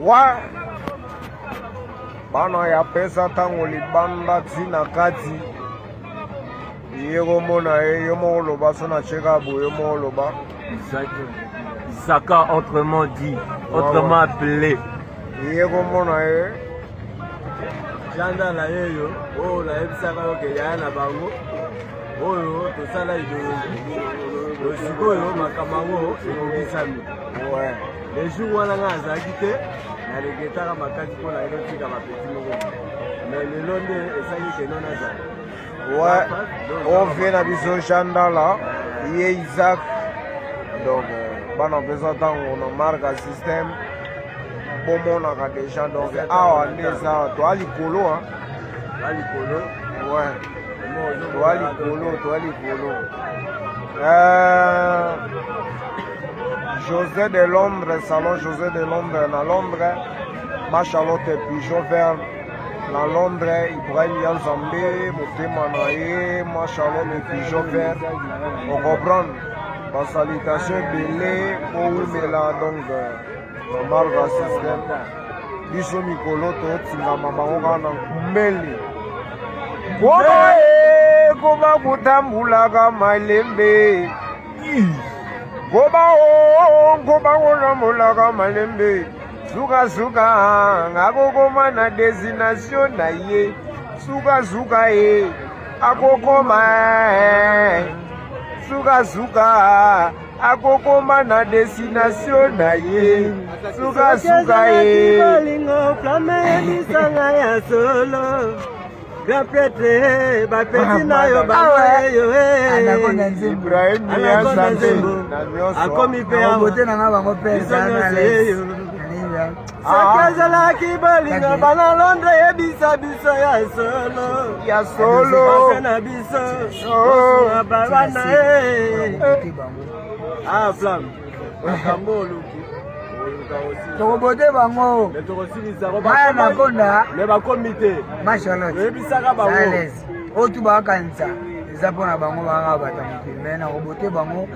Wa bana ya pesa ntango libanda ti na kati ye komona ye yo moko loba so na cheka boye yo moko loba saka autrement dit autrement appelé ye komona ye janda na ye yo oyo nayebisaka yo ke yaya na bango oyo tosala idologi sikoyo makambo yango ekokisami Le jour wana ngai azalaki te na regretaka makasi mpo na elo tika bapeti moko me lelo nde esali keno nazala ovie na biso jandala ye isaac donc bana mpeza ntango na marka système bomonaka déjà donc awa nde eza toa likolo toa likolo toa likolo toa likolo euh, José de Londres, salon José de Londres na Londres, ma Charlotte Pigeon Vert na Londres, Ibrahim Yanzambe, motema na ye, ma Charlotte Pigeon Vert, on comprend ba salutation ebele owumela donc normal ba système biso mikolo totingama bango kaka na nkumbeli koba kotambulaka malembe Goba o goba wona molaka malembe sukasuka akokoma na destination na ye sukasuka ye akokoma sukasuka akokoma na destination na ye sukasuka ye Grand prêtre, eh, ba petit na yo ba ah yo eh. Anakonda nzembo. Anakonda nzembo. Akomi pe awa. Bote na nga bango pe za na les. Soki azalaki bolingo bana Londres yebisa biso ya solo. Ya solo. Basa na biso. Oh. Bana eh. Ah, flamme. tokobote bango baya makonda mashalotayebisaka bango oyo tu bakanisa eza mpo na bango banga bata mokili me nakobote bango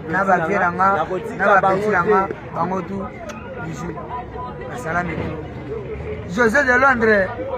na bavie na nga na bapeti na nga bango tu bisu basala mikolo josé de londres